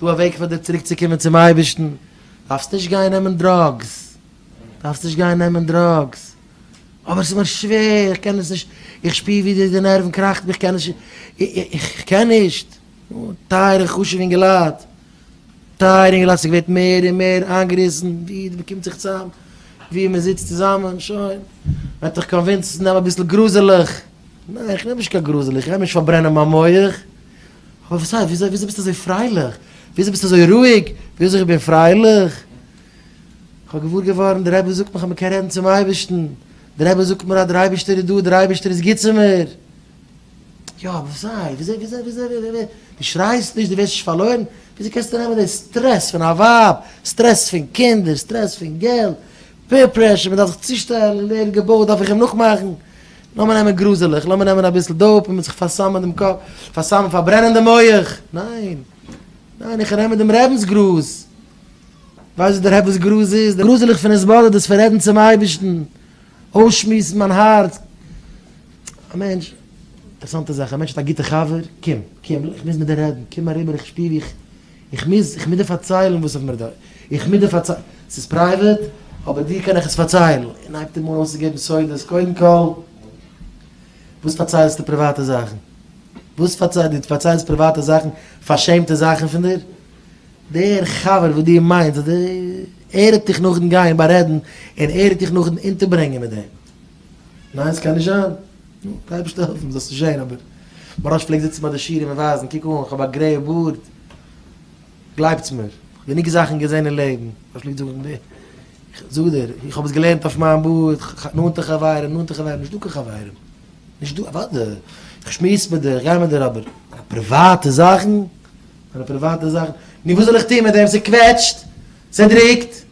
ס'דא א וועג פאר דיר צוריק צו קומען צום אייבערשטן, דארפסט נישט גיין נעמען דראגס, דארפסט נישט גיין נעמען דראגס, אבער ס'איז מיר שווער, איך קען עס נישט, איך שפיר ווי די די נערוון קראכט מיר, איך קען נישט, איך קען נישט. טייערע חשובע אינגעלייט, טייערע אינגעלייט, ס'איז געווערט מער און מער איינגעריסן, ווי מען קומט זיך צוזאם, ווי מען זיצט צוזאמען, שוין, וועט דיך קאנווינסן צו נעמען אביסל גראזעלעך, ניין איך נעם נישט קיין גראזעלעך, איך גיי נישט פארברענען מיין מח. כ'האב פארציילט וויאזוי וויאזוי ביסטו אזוי פרייליך, וויאזוי ביסטו אזוי רואיג, וויאזוי איך בין פרייליך, כ'האב געוואר געווארן דער רבי זאגט מיר כ'האב מיר קען רעדן צום אייבערשטן, דער רבי זאגט מיר אז דער אייבערשטער איז דא, דער אייבערשטער איז גוט צו מיר. יא, אבער וויאזוי וויאזוי וויאזוי וויאזוי ווי ווי, דו שרייסט נישט, דו ווערסט נישט פארלוירן, וויאזוי קענסטו נעמען די סטרעס פון א ווייב, סטרעס פון קינדער, סטרעס פון געלט, פעיר פרעשור, מ'דארף זיך צושטעלן, און ער האט געבויעט דארף איך אים נאכמאכן, לאמיר נעמען גראזעלעך, לאמיר נעמען אביסל דאופ און מיט זיך פארסאמען דעם קאפ, פארסאמען, פארברענען דעם מח, ניין, ניין, איך נעם מיט דעם רבינ'ס גראז, ווייסט וואס דער רבינ'ס גראז איז? דער גראזעלעך פון התבודדות, פון רעדן צום אייבערשטן, אויסשמועסן מיין הארץ, א מענטש, אינטערעסאנטע זאך, א מענטש האט א גוטע חבר, קום, קום, איך מוז מיט דיר רעדן, קום אריבער, איך שפיר ווי איך. איך מוז, איך מוז דיר פארציילן וואס איך מיר דא, איך מוז דיר פארציילן, ס'איז פרייוועט, אבער דיר קען איך עס פארציילן, און הייבט אים אן אויסצוגעבן סודות, קודם כל, וואס פארציילסטו פריוואטע זאכן? וואס פארציילסט, דו פארציילסט פריוואטע זאכן, פארשעמטע זאכן פון דיר? דער חבר וואס דו מיינסט, אז דו, ער וועט דיך נאכדעם גיין בארעדן, און ער וועט דיך נאכדעם אונטערברענגען מיט דעם. ניין, ס'קען נישט זיין. נו, די אייבערשטער העלפן זאלסט נישט זען, אבער מוהרא ש פלעגט זיצן ביי די שירעם און ווייזן, קוק אן, כ'האב א גרעיע בארד, גלייבטס מיר, כ'האב גענוג זאכן געזען אין לעבן, מוהרא ש פלעגט זאגן, איך זאג דיר, איך האב עס געלערנט אויף מיין בארד, נאנטע חברים, נאנטע חברים, נישט דא קיין חברים, נישט דא, אוואדע, איך שמועס מיט דיר, איך גיי מיט דיר, אבער מיינע פריוואטע זאכן, מיינע פריוואטע זאכן, נו וואס זאל איך טון מיט דעם, ס'קוועטשט, ס'דרוקט.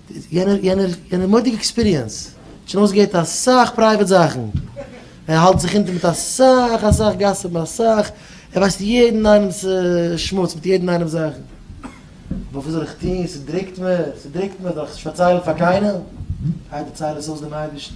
יענער יענער יענער מודי'ג עקספיריענס האט שוין אויסגעהערט אסאך פרייוועט זאכן, ער האלט זיך אונטער מיט אסאך אסאך גאסיפן אסאך, ער ווייסט יעדן איינעמ'ס שמוץ מיט יעדן איינעם זאכן, אבער וואס זאל איך טון ס'דרוקט מיר ס'דרוקט מיר זאל איך נישט פארציילן פאר קיינעם, גיי דערצייל עס אויס דעם אייבערשטן.